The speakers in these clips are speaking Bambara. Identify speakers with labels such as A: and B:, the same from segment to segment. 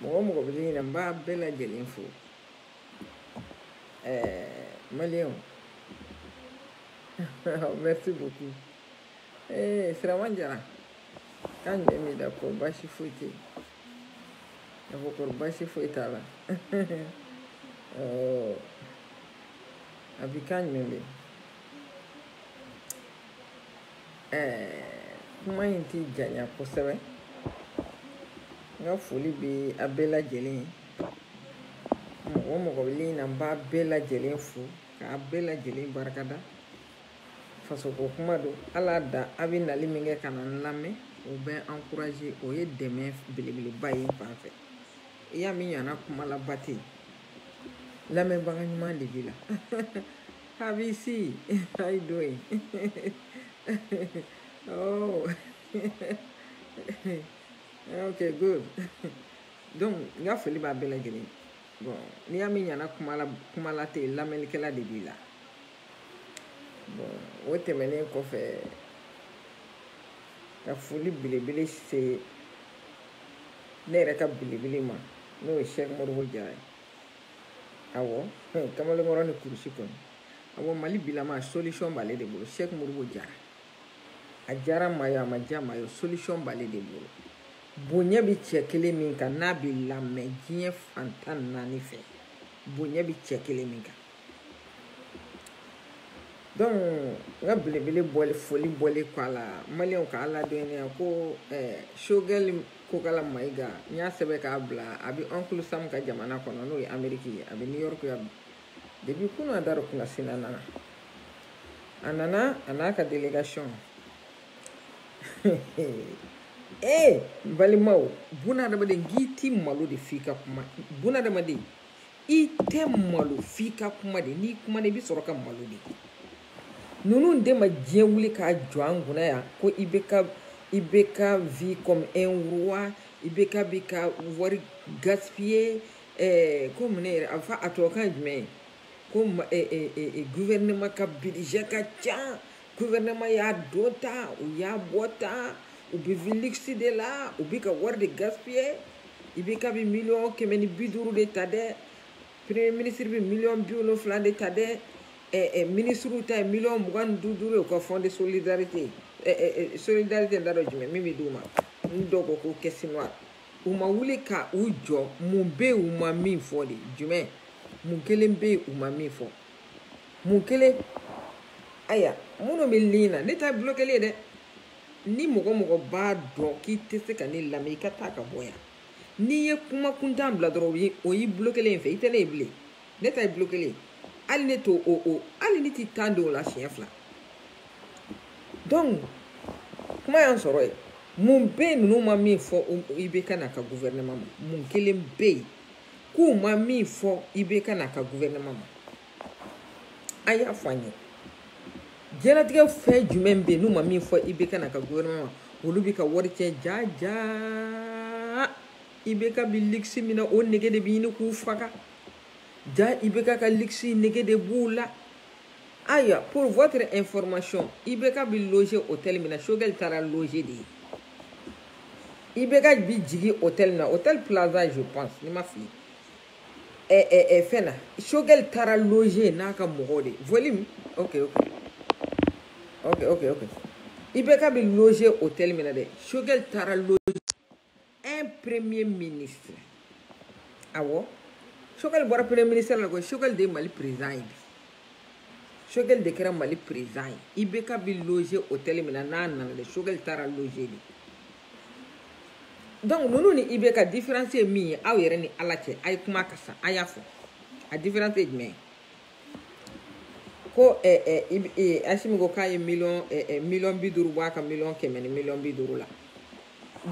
A: mɔgɔ mɔgɔ bɛ liɲi na n b'a bɛɛ lajɛlen fo ɛɛ eh, maliyɛnw merci beaucoup ee eh, sirama jara ka n mɛn bien d'accord baasi foyi tɛ ah d'accord baasi foyi t'a la ɔɔ a bi ka n mɛn bien. kuma in tɛ janya kosɛbɛ n ka foli bɛ a bɛɛ lajɛlen ye mɔgɔ o mɔgɔ bɛ liɲi na n b'a bɛɛ lajɛlen fo k'a bɛɛ lajɛlen barika da fasoko kuma don ala da a bɛ nali min kɛ ka na n lamɛn o bɛ ankuraze o ye dɛmɛ belebeleba ye n fan fɛ i y'a mɛn ɲana kumalaba tɛ yen lamɛnbaga ɲuman de b'i la Have you see? How you doing? oh. okay, good. Donc, n ka foli b'a bɛɛ lajɛlen bon n'i y'a mɛn ɲana kumala tɛ yen lamɛnnikɛla de b'i la bon o tɛmɛnen kɔfɛ ka foli belebele se ne yɛrɛ ka belebele ma n'o ye sɛk moribo jara ye awɔ kamalenkɔrɔ ni kurusi kɔni awɔ mali bilama solution b'ale de bolo sɛki moribo jara a diyara maa ye a ma diya maa ye solution b'ale de bolo bonya bɛ cɛ kelen min kan n'a bɛ lamɛn diɲɛ fan tan ni naani fɛ bonya bɛ cɛ kelen min kan donc n ka belebele bɔli foli bɔlen kɔ a la maliyɛnw k'a ladɔnniya ko sogɛli kokala mayiga n y'a sɛbɛn k'a bila a bɛ uncle sam ka jamana kɔnɔ n'o ye ameriki ye a bɛ new york yan depuis kunun a dara kunasini a nana a nana a n'a ka délégation ee balimaw bunadamaden k'i ti malo de f'i ka kuma bunadamaden i tɛ malo f'i ka kuma de n'i kuma de i bɛ sɔrɔ ka malo de ninnu de ma diɲɛ wuli k'a jɔ an kunna yan ko IBK IBK vit comme un roi IBK bɛ ka wari gaspiller ɛɛ ko mun ne yɛrɛ a fɔ a tubabukan ye jumɛn ye ko ɛɛ ɛɛ gouvernement ka budget ka ca. guvɛrɛnɛma y'a don tan u y'a bɔ tan u bɛ vie luxe de la u bɛ ka wari de gaspiller IBK bi miliyɔn kɛmɛ ni bi duuru de ta dɛ premier ministre bɛ miliyɔn bi wolonfila de ta dɛ ɛ ɛ minisiriw ta ye miliyɔn mugan ni duuru duuru ye u ka fond de solidarité ɛ ɛ ɛ solidarité n t'a dɔn jumɛn min bɛ d'u ma n dɔw ko ko caisse noire u ma wuli ka u jɔ mun bɛ yen u ma min fɔ de jumɛn mun kelen bɛ yen u ma min fɔ mun kelen ayiwa minnu bɛ ligne na ne ta ye bulokɛli ye dɛ ni mɔgɔ mɔgɔ b'a dɔn k'i tɛ se ka ne lamɛn i ka taa ka bɔ yan n'i ye kuma kuntan bila dɔrɔn o y'i bulokɛlen ye n fɛ i tɛ ne ye bilen ne ta ye bulokɛli ye hali ne t'o o o hali ne t'i tan don o la siɲɛ fila donc kuma y'an sɔrɔ yen mun bɛ yen ninnu ma min fɔ ibk n'a ka gouvernement ma mun kelen bɛ yen k'u ma min fɔ ibk n'a ka guvɛrɛnɛma ma a y'a fɔ an ye diɲɛlatigɛ fɛn jumɛn bɛ yen n'u ma min fɔ ibk n'a ka guvɛrɛnɛma ma olu bɛ ka wari tiɲɛ jaa jaa ibk bi luxe min na o nege de bɛ ɲini k'u faga jaa ibk ka luxe nege de b'u la ayiwa pour votre information ibk bi loger hôtel min na choguel taara loger de yen ibk bi jigin hôtel na hôtel plaza je pense ni n ma fili ɛ ɛ ɛ fɛn na choguel taara loger n'a ka mɔgɔw de volume ok ok ok ok ok ibk bi loger hôtel min na dɛ choguel taara loger un premier ministre awɔ choguel bɔra premier ministre la koyi choguel de ye mali président ye bi choguel de kɛra mali président ye ibk bi loger hôtel min na n'a nana dɛ choguel taara loger de donc ninnu ni ibk différence ye min ye aw yɛrɛ ni ala cɛ a ye kuma ka sa a y'a fɔ a différence ye jumɛn ye ko eh, eh, eh, asimi ko k'a ye miliyɔn eh, eh, miliyɔn bi duuru bɔ a ka miliyɔn kɛmɛ ni miliyɔn bi duuru la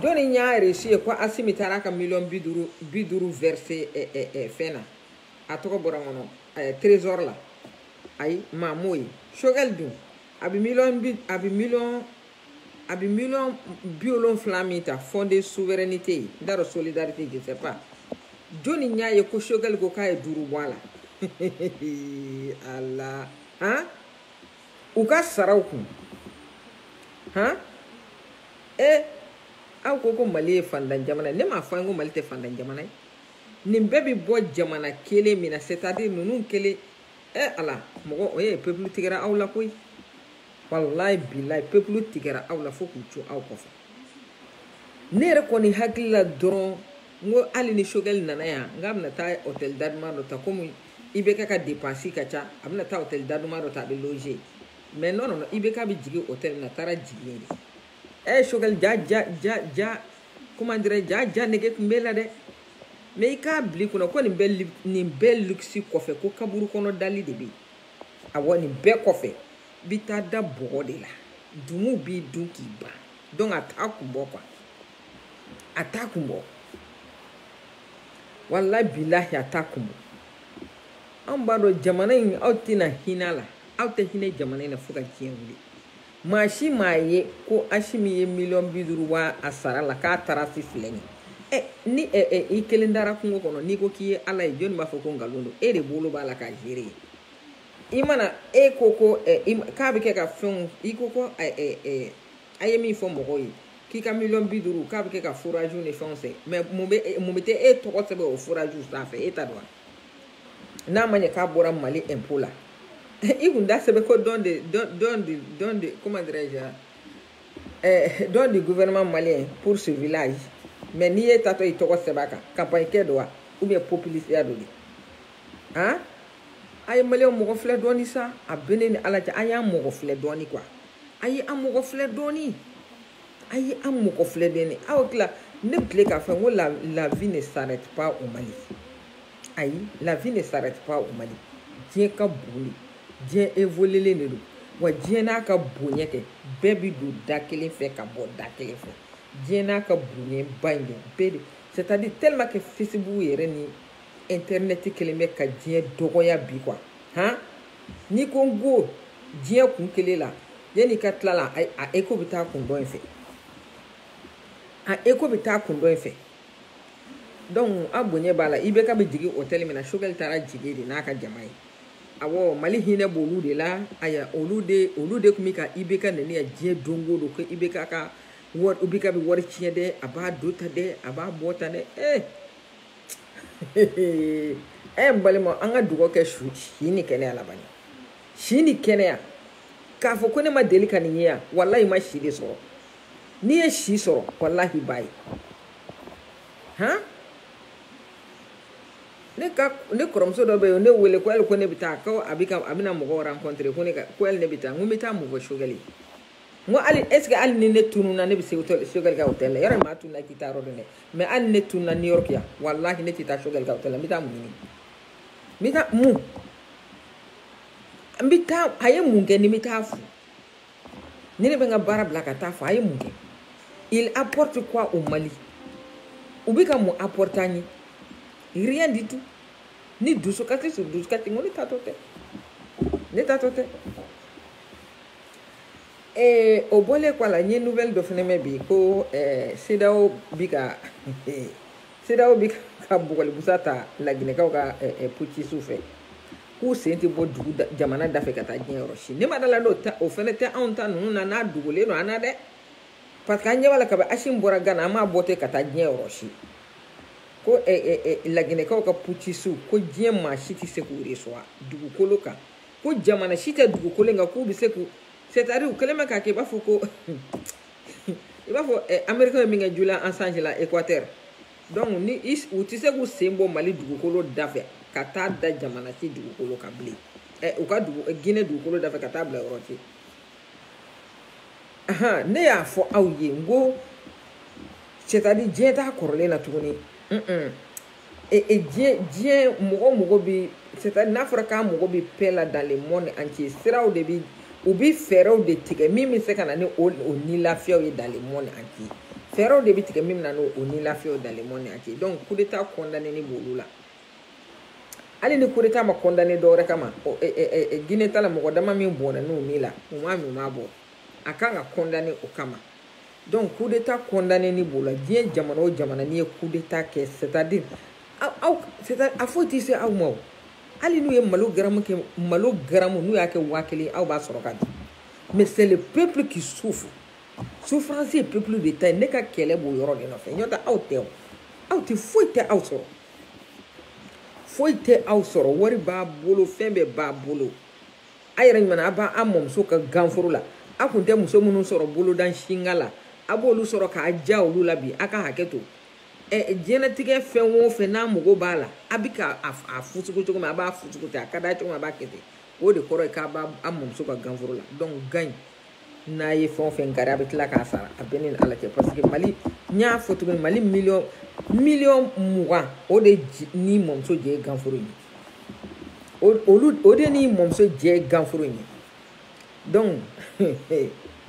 A: jɔni y'a reçu ye ko asimi taara a ka miliyɔn bi duuru bi duuru verser eh, eh, eh, fɛn na a tɔgɔ bɔra n kɔnɔ ɛɛ trésor la ayi maa m'o ye choguel dun a bɛ miliyɔn bi a bɛ miliyɔn a bɛ miliyɔn bi wolonfila min ta fonds de souveraineté ye n t'a dɔn solidarité je sais pas jɔni y'a ye ko choguel ko k'a ye duuru bɔ a la ala han u ka saraw kun han e aw ko ko mali ye fantan jamana ye ne m'a fɔ aw ye ko mali tɛ fantan jamana ye nin bɛɛ bɛ bɔ jamana kelen min na c'est à dire ninnu kelen ɛ ala mɔgɔ o ye pepulu tigɛra aw la koyi walayi bilayi pepulu tigɛra aw la fo k'u to aw kɔfɛ ne yɛrɛ kɔni hakili la dɔrɔn n ko hali ni choguel nana yan n k'a bɛna taa hôtel daduman dɔ ta komi ibk ka dépense ka ca a bɛna taa hôtel daduman dɔ ta a bɛ loger mais non non ibk bɛ jigin hôtel min na a taara jigin de ɛ choguel ja ja ja ja comment dirais je jaa nege tun b'e la dɛ mais i k'a bila i kun na ko nin bɛɛ nin bɛɛ luxe kɔfɛ ko kaburu kɔnɔ dali de bɛ awɔ nin bɛɛ kɔfɛ i bɛ taa da bɔgɔ de la dumuw b'i dun k'i ban donc a t'a kun bɔ quoi a t'a kun bɔ walayi bilahi a t'a kun bɔ anw b'a dɔn jamana in aw tɛna hinɛ a la aw tɛ hinɛ jamana in na fo ka diɲɛ wuli maa si m'a ye ko asimi ye miliyɔn bi duuru bɔ a sara la k'a trace filɛ nin ɛ ni ɛ ɛ i kelen dara kungo kɔnɔ n'i ko k'i ye ala ye jɔnni b'a fɔ ko nkalon don e de bolo b'a la k'a gérer i mana e ko ko ɛ k'a bɛ kɛ ka fɛnw i ko ko ɛ ɛ ɛ a ye min fɔ mɔgɔw ye k'i ka miliyɔn bi duuru k'a bɛ kɛ ka foraziw ni fɛnw sen mais mun bɛ mun bɛ taa e tɔgɔ sɛbɛn o foraziw sanfɛ e ta don wa n'a ma ɲɛ k'a bɔra mali impôt la i kun da sɛbɛn ko don de don don de don de comment dirais je eh, don du gouvernement malien pour ce village mais ni e taatɔ i tɔgɔ sɛbɛn a kan campagne kɛ don wa ou bien populisiya don de han a ye maliyɛnw mɔgɔ filɛ dɔɔni sa a bɛ ne ni ala cɛ a y'an mɔgɔ filɛ dɔɔni quoi a ye an mɔgɔ filɛ dɔɔni a ye an mɔgɔ filɛ dɔɔni aw tila ne bɛ tilen k'a fɔ n ko la la vie ne s'arrête pas au Mali ayi la vie ne s'arrête pas au Mali diɲɛ ka bon de diɲɛ évoluelen de don wa diɲɛ n'a ka bonya kɛ bɛɛ bi don da kelen fɛ ka bɔ da kelen fɛ diɲɛ n'a ka bonya ba in de bɛɛ de c'est à dire tellement que Facebook yɛrɛ ni internet kelen bɛ ka diɲɛ dɔgɔya bi quoi han n'i ko n ko diɲɛ kun kelen la yanni i ka tila la a écho bɛ taa kun dɔ in fɛ a écho bɛ taa kun dɔ in fɛ donc a bonya b'a la IBK bɛ jigin hôtel min na sogɛli taara jigin de n'a ka jama ye awɔ mali hinɛ b'olu de la aya olu de olu de tun bɛ ka IBK nɛni yan diɲɛ don o don ko IBK ka wari IBK bɛ wari tiɲɛ dɛ a b'a don tan dɛ a b'a bɔ tan dɛ ee. Eh! ɛ eh, balima an ka dugawu kɛ su si ni kɛnɛya la bani si ni kɛnɛya k'a fɔ ko ne ma deli ka nin ye yan walahi i ma si de sɔrɔ n'i ye si sɔrɔ walahi i b'a ye han ne ka ne kɔrɔmuso dɔ bɛ yen ne wele ko hali ko ne bɛ taa ko a bɛ ka a bɛna mɔgɔ rencontrer ko ne ka ko hali ne bɛ taa n ko n bɛ taa mun fɔ sogɛli n ko hali est ce que hali ni ne tununa ne bɛ se sogɛli ka hôtel la yɔrɔ maa tununa i tɛ taa yɔrɔ dɔn dɛ mais hali ne tununa new york yan walahi ne tɛ taa sogɛli ka hôtel la n bɛ taa mun ɲini n bɛ taa mun n bɛ taa a ye mun kɛ ni n bɛ taa fo ni ne bɛ n ka baara bila ka taa fo a ye mun kɛ il apporte quoi au mali u bɛ ka mun apporter an ye rien du tout ni dusukasi sur dusukasi n ko ne taatɔ tɛ ne taatɔ tɛ ee o bɔlen kɔ a la n ye nouvelle dɔ fana mɛn bi ko ɛɛ CEDEAO bi ka CEDEAO bi ka bugɔlibusa ta laginɛkaw ka ɛɛ putisiw fɛ k'u sen tɛ bɔ dugu jamana da fɛ ka taa diɲɛ yɔrɔ si ne ma da a la n'o ta o fana tɛ anw ta ninnu na n'a dogolen don an na dɛ parce que an ɲɛ b'a la kabi asimi bɔra gana a ma bɔ ten ka taa diɲɛ yɔrɔ si ko ɛɛ ɛɛ laginɛkaw ka putisiw ko diɲɛ maa si tɛ se k'u de sɔrɔ dugukolo kan. ko jamana si tɛ dugukolo in kan k'u bɛ se k'u c'est à dire u kɛlen bɛ k'a kɛ i b'a fɔ ko i b'a fɔ ɛ amerikɛn ye min kɛ julian assange la ekwatɛri donc ni u tɛ se k'u sen bɔ mali dugukolo da fɛ ka taa da jamana si dugukolo kan bilen ɛ u ka dugu Guinée dugukolo da fɛ ka taa bila yɔrɔ tɛ ahan ne y'a fɔ aw ye n ko c'est à dire diɲɛ t'a kɔrɔlen na tuguni un un et et diɲɛ diɲɛ mɔgɔ mɔgɔ bɛ c'est à dire n'a fɔra k'a mɔgɔ bɛ paix la dans le monde entier siraw de bɛ u bɛ fɛɛrɛw de tigɛ min bɛ se ka na ni o o nilafiyaw ye dans le monde entier fɛɛrɛw de bɛ tigɛ min bɛ na ni o nilafiyaw ye dans le monde entier donc coup d'état condamné ni b'olu la hali ni coup d'état ma condamné dɔ wɛrɛ kama ɔ ɛ ɛ ɛ Guinée ta la mɔgɔ dama min bɔnɛna u ni la u m'a min u m'a bɔ a kan ka condamné o kama. donc coup d'état condamné ni b'o la diɲɛ jamana o jamana n'i ye coup d'état kɛ c'est à dire aw c'est à a foyi tɛ se aw ma o hali n'u ye malo garamu n'u y'a kɛ waa kelen aw b'a sɔrɔ ka di mais c'est le peuple qui souffre souffrance ye peuple de ta ye ne ka kɛlɛ b'o yɔrɔ de nɔfɛ ɲɔtɛ aw tɛ o aw tɛ foyi tɛ aw sɔrɔ foyi tɛ aw sɔrɔ wari b'a bolo fɛn bɛɛ b'a bolo a yɛrɛ ɲuman a b'a mɔmuso ka ganforo la a kun tɛ muso minnu sɔrɔ bolodan singa la a b'olu sɔrɔ k'a diya olu la bi a ka hakɛ to ɛ diɲɛlatigɛ fɛn o fɛn n'a mago b'a la a bɛ ka a fusugu cogo min a b'a fusugu ten a ka d'a cogo min a b'a kɛ ten o de kɔrɔ ye k'a b'a mɔmuso ka ganforo la donc gan in n'a ye fɛn o fɛn kari a bɛ tila k'a sara a bɛ ni ala cɛ parce que mali n y'a fɔ cogo mali miliyɔn miliyɔn mugan o de ni mɔmuso jɛ ye ganforo ye olu o de ni mɔmuso jɛ ye ganforo ye donc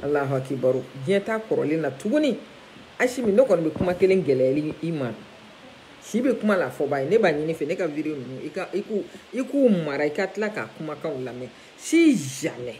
A: alahu akibaru diɲɛ t'a kɔrɔlen na tuguni asimi ne kɔni bɛ kuma kelen gɛlɛyali i ma si bɛ kuma la fɔba ye ne b'a ɲini i fɛ ne ka video ninnu i ka i k'u i k'u mara i ka tila k'a kumakanw lamɛn si jamais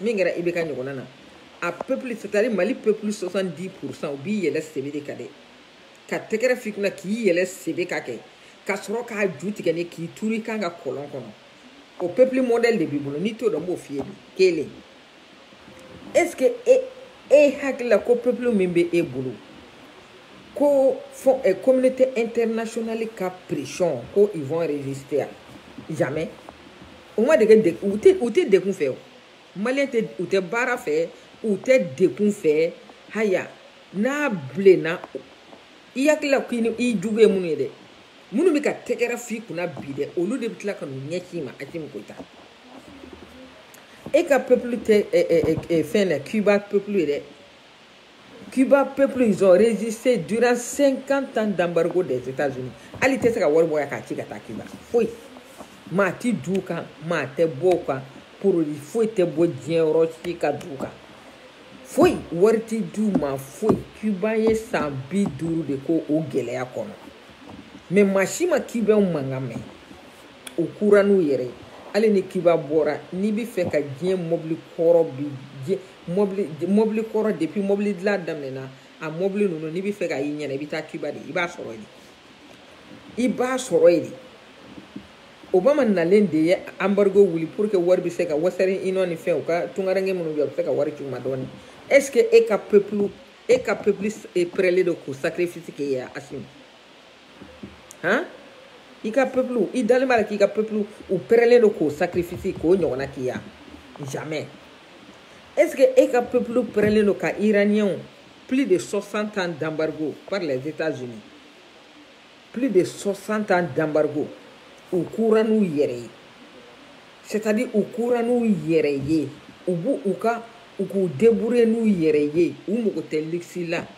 A: min kɛra IBK ɲɔgɔnna na a peuple c'est à dire mali peuple 70 pourcent u b'i yɛlɛn sebe de kan dɛ ka tɛgɛrɛ f'i kunna k'i yɛlɛn sebe kan kɛ ka sɔrɔ k'a ju tigɛ ni k'i turu i kan kan kɔlɔn kɔnɔ o peuple modèle de b'i bolo n'i t'o dɔn n b'o f'i ye bi kelen est ce que e e hakili la ko peuple min bɛ e bolo ko fo eh, communauté internationale ka pression ko ils vont résister à jamais u ma dege de u tɛ u tɛ degun fɛ o maliyɛn tɛ u tɛ baara fɛ u tɛ degun fɛ haya n'a bilenna i hakili la k'i ni i jugu ye minnu ye dɛ minnu bɛ ka tɛgɛrɛ f'i kunna bi dɛ olu de bɛ tila ka n'u ɲɛ k'i ma Asimi Goyita e ka peuple tɛ ɛ ɛ ɛ fɛn na Cuba peuple ye dɛ Cuba peuple ils ont résisté durant 50 ans d'embargo des États-Unis hali tɛ se ka wari bɔ yan k'a ci ka taa Cuba foyi maa tɛ don u kan maa tɛ bɔ u kan produit foyi tɛ bɔ diɲɛ yɔrɔ si ka don u kan foyi wari tɛ d'u ma foyi Cuba ye san bi duuru de kɛ o gɛlɛya kɔnɔ mais maa si ma Cubaw mankan mɛn u kura n'u yɛrɛ ye hali ni Cuba bɔra n'i bɛ fɛ ka diɲɛ mɔbili kɔrɔ bi diɲɛ mobili mobili kɔrɔ depuis mobili dilan daminɛna a mobili ninnu n'i bɛ fɛ k'a y'i ɲɛ na i bɛ taa Cuba de i b'a sɔrɔ yen i b'a sɔrɔ yen Obama nalen de ye embargo wuli pour que wari bɛ se ka Western Union ni fɛn u ka tungaranke minnu bɛ yen u bɛ se ka wari ci u ma dɔɔni est ce que e ka peuple e ka peuple pɛrɛlen don k'o sacrifice kɛ yan Asimi. han i ka peuple i dalen b'a la k'i ka peuple u pɛrɛlen don k'o sacrifice k'o ɲɔgɔnna k'i ya jamais est ce que e ka peuple pɛrɛlen don ka iraniens plus de 60 ans d'embargo par les états unis plus de 60 ans d'embargo u kura n'u yɛrɛ ye c'est à dire u kura n'u yɛrɛ ye u b'u u ka u k'u débrouiller n'u yɛrɛ ye u mago tɛ luxe la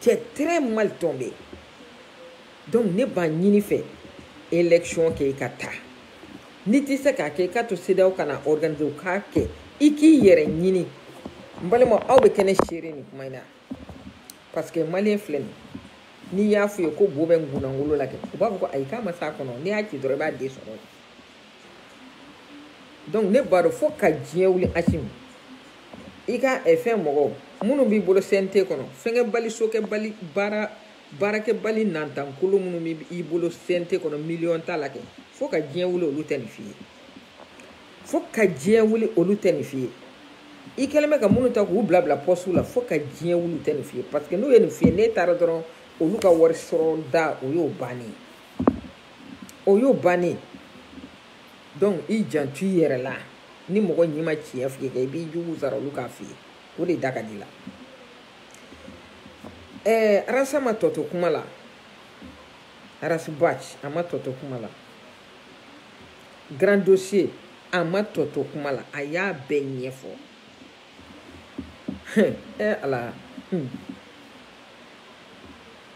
A: tu es très mal tombé donc ne b'a ɲin'i fɛ élection kɛ i ka taa n'i tɛ se k'a kɛ i k'a to CEDEAO ka n'a organiser u k'a kɛ i k'i yɛrɛ ɲini n balima aw bɛ kɛ ne seere nin kuma in na parce que maliyɛn filɛ nin n'i y'a f'u ye ko bo bɛ ngunangolo la kɛ u b'a fɔ ko ayi k'a ma s'a kɔnɔ n'i y'a ci dɔrɔn i b'a den sɔrɔ donc ne b'a dɔn fo ka diɲɛ wuli Asimi i ka eh, fɛn mɔgɔw minnu b'i bolo cnt kɔnɔ fɛnkɛbali sokɛbali baara baarakɛbali nantankolo minnu b'i bolo cnt kɔnɔ miliyɔn t'a la kɛ fo ka diɲɛ wuli olu tɛ nin f'i ye fo ka diɲɛ wuli olu tɛ nin f'i ye i kɛlen bɛ ka minnu ta k'u bila bila postew la fo ka diɲɛ wuli tɛ nin f'i ye parce que n'u ye nin f'i ye n'e taara dɔrɔn olu ka wari sɔrɔ da o y'o bannen ye o y'o bannen donc i janto i yɛrɛ la ni mɔgɔ ɲi ma tiɲɛ f'i ye i b'i jugu sara olu k'a f'i ye o de da ka di la ɛɛ Ras a ma tɔ to kuma la Ras Bath a ma tɔ to kuma la grand dossier a ma tɔ to kuma la a y'a bɛɛ ɲɛfɔ ɛɛ ala hmm.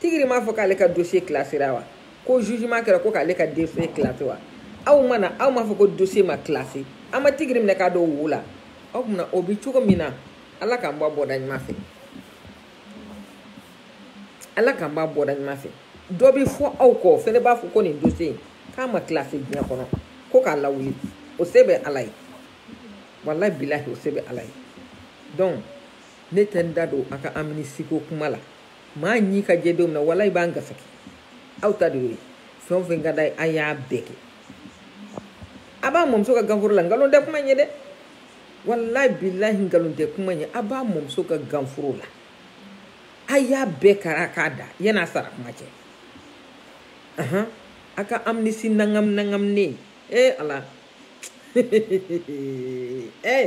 A: tigiri m'a fɔ k'ale ka dossier classéra wa ko jugement kɛra ko k'ale ka dossier classé wa aw mana aw m'a fɔ ko dossier ma classé an ma tigiri minɛ k'a don wo la aw tun na o bi cogo min na ala k'an bɔ a bɔda ɲuman fɛ ala k'an b'a bɔda ɲuman fɛ dɔ bɛ fɔ aw kɔ o fɛnɛ b'a fɔ ko nin dossier in k'a ma classé diɲɛ kɔnɔ ko k'a lawuli o se bɛ ala ye walayi bilahi o se bɛ ala ye donc ne tɛ n da don a ka amnistie ko kuma la maa ɲi ka jɛ don min na walayi b'an gasaki aw ta de y'o ye fɛn o fɛn ka d'a ye a y'a bɛɛ kɛ a b'a mɔmuso ka ganforo la nkalon tɛ kuma ɲɛ dɛ walayi bilahi nkalon tɛ kuma ɲɛ a b'a mɔmuso ka ganforo la a y'a bɛɛ kara k'a da yan'a sara kuma cɛ ahan a ka amnistie nangam nangamnen ee ala ee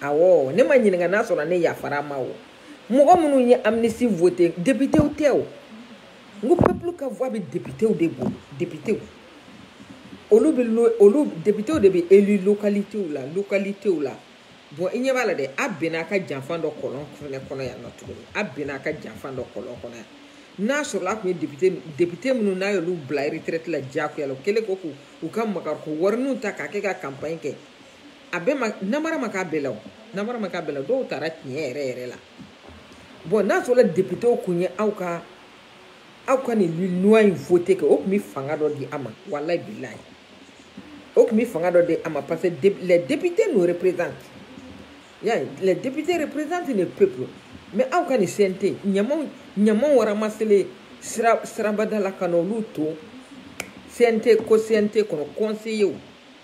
A: awɔ ne ma ɲininka n'a sɔrɔ ne yafara ma o mɔgɔ minnu ye amnistie voté depitew tɛ o n ko peuple ka voix bɛ depitew de bolo depitew olu bɛ lo olu depitew de bɛ élu localitéw la localitéw la bon i ɲɛ b'a la dɛ a bɛnna a ka janfa dɔ kɔlɔn fɛnɛ kɔnɔ yan nɔ tuguni a bɛnna a ka janfa dɔ kɔlɔn kɔnɔ yan n'a sɔrɔla a tun ye depite depite minnu n'a y'olu bila retraite la diyagoya la o kɛlen ko k'u u ka makariko warininw ta k'a kɛ ka campagne kɛ a bɛɛ ma namara ma k'a bɛɛ la o namara ma k'a bɛɛ la dɔw taara tiɲɛ yɛrɛ yɛrɛ la bon n'a sɔrɔ depitew kun ye aw ka aw ka nin loi in voté kɛ o tun bɛ fanga dɔ di a ma walayi bilahi o tun bɛ fanga dɔ di a ma parce que les députés nous représentent y'a ye les députés représentent le peuple mais aw ka nin CNT ɲamanw ɲamanw ramassélen sira sirabada la ka na olu to CNT ko CNT kɔnɔ conseiller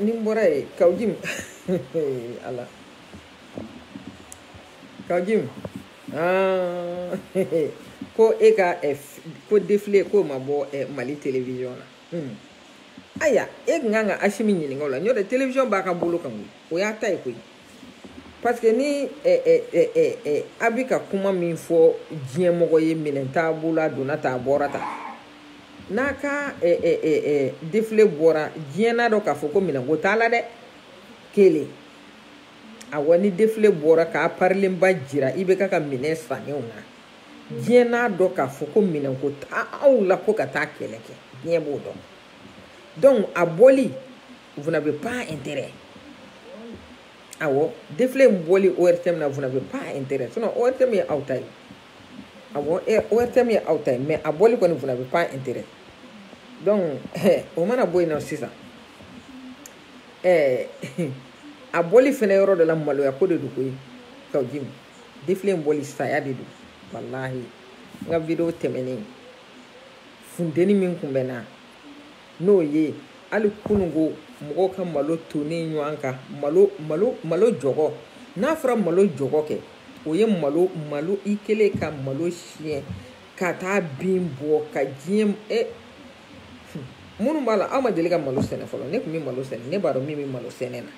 A: ni n bɔra yen kawujim ala kawujim ko e ka ko défilé k'o ma bɔ mali télévision la ayiwa e tun kan ka asimi ɲininka o la n'o tɛ télévision b'a ka bolo kan koyi o y'a ta ye koyi parce que ni a bɛ ka kuma min fɔ diɲɛmɔgɔ ye minɛn t'a bolo a donna ta a bɔra ta n'a ka défilé bɔra diɲɛ n'a dɔn k'a fɔ ko minɛnko t'a la dɛ kelen awa ni défilé bɔra k'a parilenba jira i bɛ ka ka minɛn sannenw na diɲɛ n'a dɔn k'a fɔ ko minɛnko t'aw la ko ka taa kɛlɛ kɛ diɲɛ b'o dɔn donc a bɔli vous n'avez pas intérêt awɔ défilé in bɔli ORTM na vous n'avez pas intérêt sinon ORTM ye aw ta ye awɔ ORTM ye aw ta ye mais a bɔli kɔni vous n'avez pas intérêt donc o mana bɔ yen nɔ sisan ɛɛ a bɔli fɛnɛ yɔrɔ dɔ la maloya ko de don koyi Kaou Djim défilé in bɔli saya de don walahi n ka video tɛmɛnen funteni min kun bɛ n na n'o ye hali kununko mɔgɔw ka malo tonnen ɲɔgɔn kan malo malo malo jɔgɔ n'a fɔra malo jɔgɔ kɛ o ye malo malo i kelen ka malo siyɛn ka taa bin bɔ ka diɲɛ e minnu b'a la aw ma deli ka malo sɛnɛ fɔlɔ ne tun bɛ malo sɛnɛ ne b'a dɔn min bɛ malo sɛnɛ na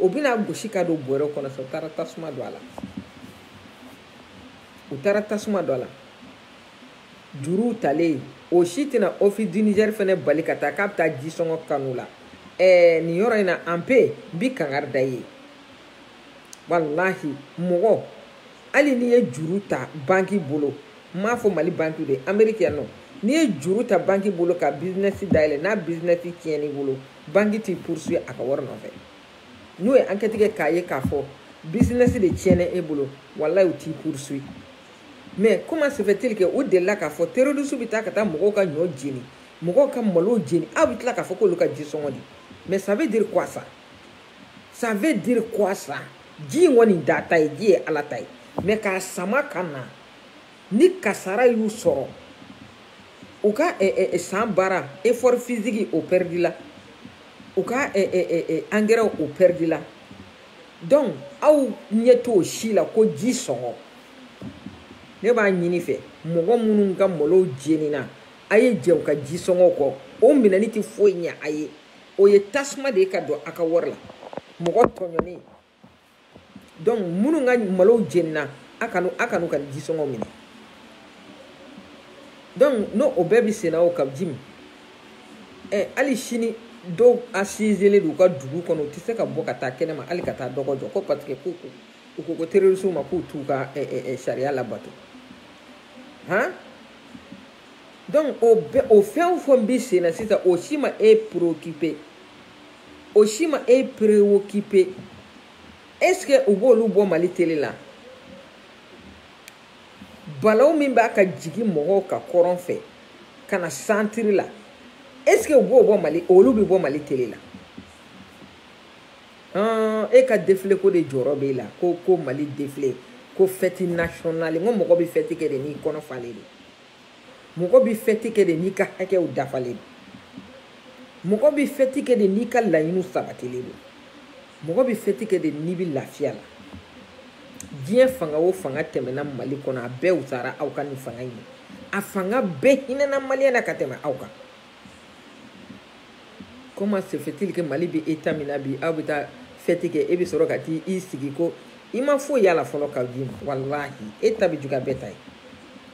A: o bɛna gosi ka don bɔrɛ kɔnɔ sa u taara tasuma don a la u taara tasuma don a la juruw talen o si tɛna office du Niger fɛnɛ bali ka taa k'a bɛ taa jisɔngɔ kanu la ɛɛ nin yɔrɔ in na an pe bi kangari da ye walahi mɔgɔ hali n'i ye juru ta banki bolo n m'a fɔ mali banki de ameriki yan nɔ n'i ye juru ta banki bolo ka bizinɛsi dayɛlɛ n'a bizinɛsi tiɲɛn'i bolo banki t'i poursuit a ka wari nɔfɛ n'u ye enquête kɛ k'a ye k'a fɔ business de tiɲɛna e bolo walayi u t'i poursuit mais comment se fait-il que u delila k'a fɔ terroristew bɛ taa ka taa mɔgɔw ka ɲɔ jeni mɔgɔw ka malo jeni aw bɛ tila k'a fɔ k'olu ka ji sɔngɔ di mais ça veut dire quoi ça ça veut dire quoi ça ji ye jɔni de ta ye ji ye ala ta ye mais k'a sama ka na ni kasara y'u sɔrɔ u ka eh, eh, eh, san baara effort physique o pɛridila u ka angɛrɛw o pɛridila donc aw ɲɛ t'o si la ko ji sɔngɔ ne b'a ɲini fɛ mɔgɔ minnu ka malow jenina a ye jɛn u ka ji sɔngɔ kɔ o minɛni tɛ foyi ɲɛ a ye o ye tasuma de ye ka don a ka wari la mɔgɔ tɔɲɔnen donc minnu ka malow jenina a kan'u a kan'u ka jisɔngɔ minɛ donc n'o o bɛɛ bɛ senna o Kaou Djim ɛ hali sini dɔw asizelen don u ka dugu kɔnɔ u tɛ se ka bɔ ka taa kɛnɛma hali ka taa dɔgɔ jɔ ko parce que k'u u ko ko terrorisiw ma k'u t'u ka ɛ ɛ sariya labato han donc o bɛɛ o fɛn o fɛn bɛ senna sisan o si ma e préoccuper o si ma e prewokipe est ce que u b'olu bɔ mali tele la balaw min b'a ka jigin mɔgɔw kan kɔrɔn fɛ ka na santiri la est ce que u b'o bɔ mali olu bɛ bɔ mali tele la hɔn e ka defile ko de jɔrɔ b'e la ko ko mali defile ko fɛti nasiyɔnali n ko mɔgɔ bɛ fɛti kɛ de n'i kɔnɔ falen de mɔgɔ bɛ fɛti kɛ de n'i ka hakɛw dafalen don mɔgɔ bɛ fɛti kɛ de n'i ka laɲiniw sabatilen don mɔgɔ bɛ fɛti kɛ de n'i bɛ lafiya la diɲɛ fanga o fanga tɛmɛna mali kɔnɔ a bɛɛ wusara aw ka nin fanga in ye a fanga bɛɛ hinɛna maliyɛn na ka tɛmɛ aw kan comment se fait-il que mali bɛ état min na bi aw bɛ taa fɛti kɛ e bɛ sɔrɔ ka t'i sigi ko i ma foyi y'a la fɔlɔ ka d'i ma walahi e ta bɛ juguya bɛɛ ta ye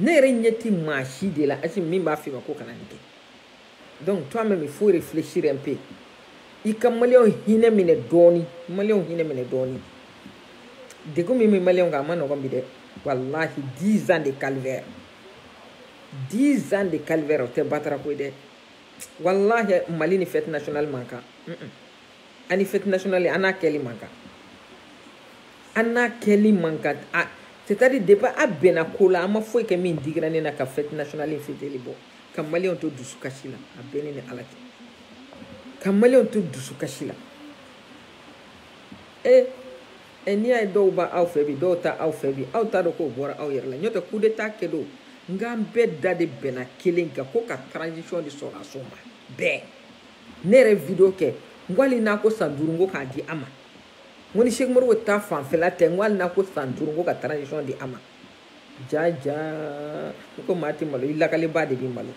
A: ne yɛrɛ ɲɛ ti maa si de la asimi min b'a f'i ma ko kana nin kɛ donc toi même il faut réfléchir un peu i ka maliyɛnw hinɛ minɛ dɔɔni maliyɛnw hinɛ minɛ dɔɔni degun min bɛ maliyɛnw kan a man nɔgɔn bi dɛ walahi dix ans de calvaire dix ans de calvaire o tɛ batara ko ye dɛ walahi mali ni fête nationale man kan. Mm -mm. ani fête nationale an n'a kɛli man kan an n'a kɛli man kan a c'est à dire depuis a bɛnna ko la a ma foyi kɛ min digira ne na ka fête nationale in fɛtili bɔ ka maliyɛnw to dusukasi la a bɛ ne ni ala cɛ ka maliyɛnw to dusukasi la e e n'i y'a ye dɔw b'aw fɛ bi dɔw t'aw fɛ bi aw t'a dɔn k'o bɔra aw yɛrɛ la n'o tɛ coup d'état kɛ don n k'an bɛɛ da de bɛnna kelen kan ko ka transition di sɔrɔdasiw ma bɛɛ ne yɛrɛ video kɛ n ko hali n'a ko san duuru n ko k'a di a ma n ko ni seki moribo ta fanfɛla tɛ n ko hali n'a ko san duuru n ko ka transition di a ma ja ja n ko maa tɛ malo i lakalibaa de bɛ malo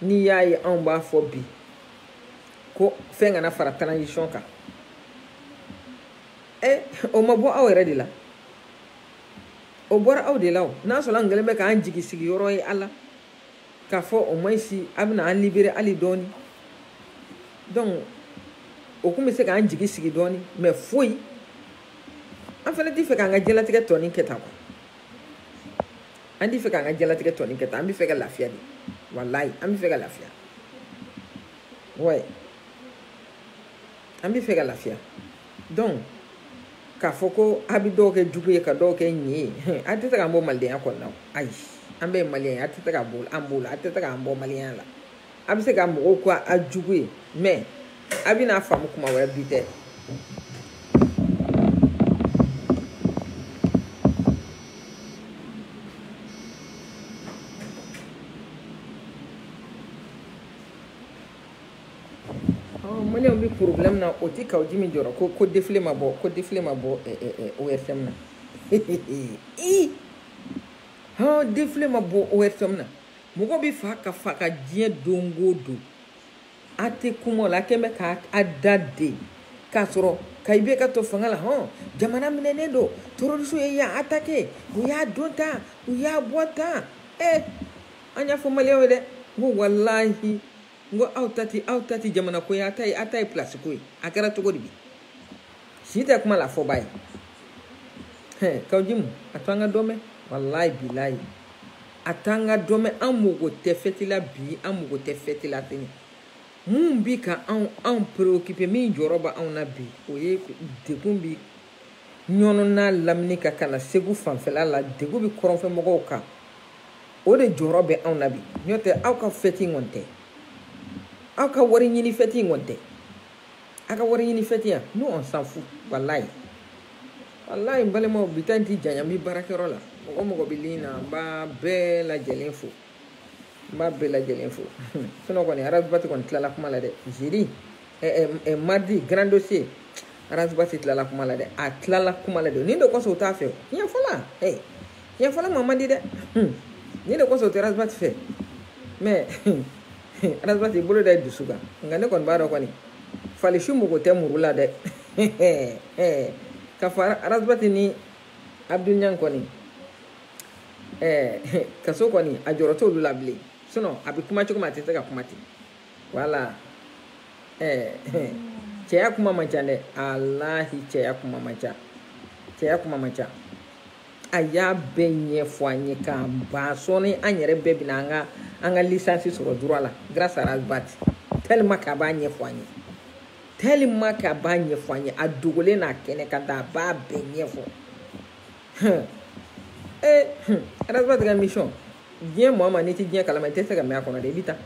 A: n'i y'a ye anw b'a fɔ bi ko fɛn kana fara transition kan ɛ o ma bɔ aw yɛrɛ de la o bɔra aw de la o n'a sɔrɔ an kɛlen bɛ k'an jigi sigiyɔrɔ ye a la k'a fɔ au moins si a bɛna an libérer hali dɔɔni donc o kun bɛ se k'an jigi sigi dɔɔni mais foyi an fana t'i fɛ k'an ka diɲɛlatigɛ tɔ nin kɛ tan quoi an t'i fɛ k'an ka diɲɛlatigɛ tɔ nin kɛ tan an bɛ fɛ ka lafiya de walayi an bɛ fɛ ka lafiya ouais an bɛ fɛ ka lafiya. donc k'a fɔ ko a bɛ dɔw kɛ jugu ye ka dɔw kɛ ɲin ye a tɛ se k'an bɔ malidenya kɔnɔna o ayi an bɛɛ ye maliyɛn ye a tɛ se ka bɔ an b'o la a tɛ se k'an bɔ maliyɛnya la a bɛ se ka mɔgɔw kɛ a jugu ye mais a bɛn'a faamu kuma wɛrɛ bi tɛ maliyɛnw bɛ porobilɛmu na o tɛ kawujimu jɔrɔ ko ko defile ma bɔ ko defile ma bɔ ORTM na i hɔn defile ma bɔ ORTM na mɔgɔ bɛ fa ka faga diɲɛ don o don a tɛ kuma o la a kɛn bɛ ka a da de k'a sɔrɔ ka i bɛ ka to fanga la hɔn jamana minɛnen don terroriste ye yan attaqué u y'a don tan u y'a bɔ tan ee an y'a fɔ maliyɛnw ye dɛ n ko walahi n ko aw ta tɛ aw ta tɛ jamana ko ye aw ta ye aw ta ye pilasi ko ye a kɛra cogo di bi si tɛ kuma la a fɔbaa ye hɛn kawujimu a to an ka dɔ mɛn walayi bilayi a to an ka dɔ mɛn an mago tɛ fɛti la bi an mago tɛ fɛti la tuguni min bi ka anw anw preokipe min jɔrɔ bɛ anw na bi o ye degun bi ɲɔnɔ n'a lamini kan ka na segu fanfɛla la degun bɛ kɔrɔnfɛmɔgɔw kan o de jɔrɔ bɛ anw na bi n'o tɛ aw ka fɛti in kɔni tɛ aw ka wari ɲini fɛti in kɔni tɛ aw ka wari ɲini fɛti yan nous on s'en fout walayi walayi n balimaw bi ta in ti janya n bi baarakɛyɔrɔ la mɔgɔ o mɔgɔ bɛ ligne na n b'a bɛɛ lajɛlen fo n b'a bɛɛ lajɛlen fo sinon kɔni arasibati kɔni tilala kuma la dɛ jeudi mardi grand dossier arasibati tilala kuma la dɛ a tilala kuma la dɛ nin de kosɔn u t'a fɛ tiɲɛ fɔla ee tiɲɛ fɔla ma man di dɛ nin de kosɔn u tɛ arasibati fɛ mais arasibati bolo da i dusu kan nka ne kɔni b'a dɔn kɔni falisi mɔgɔ tɛ muru la dɛ k'a fɔ arasibati ni abdul ɲan kɔni ɛɛ eh, kaso kɔni a jɔrɔ t'olu la bilen sinon a bɛ kuma cogo min a tɛ se ka kuma ten voilà ɛɛ eh, cɛya kuma man ca dɛ alahi cɛya kuma man ca cɛya kuma man ca a y'a bɛɛ ɲɛfɔ an ye k'a ban sɔɔni an yɛrɛ bɛɛ bɛna an ka an ka lisansi sɔrɔ droit la grâce à Ras Bath tellement k'a b'a ɲɛfɔ an ye tellement k'a b'a ɲɛfɔ an ye a dogolen n'a kɛnɛ kan ta a b'a bɛɛ ɲɛfɔ ee arasibati ka émission diɲɛ mɔɔ ma n'i ti diɲɛ kalama i tɛ se ka mɛn a kɔnɔ dɛ i bi taa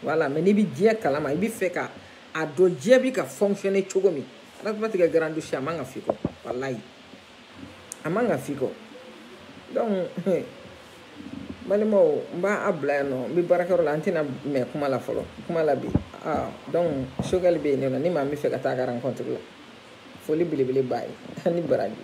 A: voilà mais n'i bi diɲɛ kalama i bi fɛ ka a dɔn diɲɛ bi ka fonctionner cogo min arasibati ka grand dossier a man ka f'i kɔ walayi a man ka f'i kɔ donc balimaw n b'a bila yan nɔ n bɛ baarakɛyɔrɔ la an tɛna mɛn kuma la fɔlɔ kuma la bi ah, donc sogɛli bɛ yen nɔ ni maa min bɛ fɛ ka taa a ka rencontre la foli belebele b'a ye ani baraji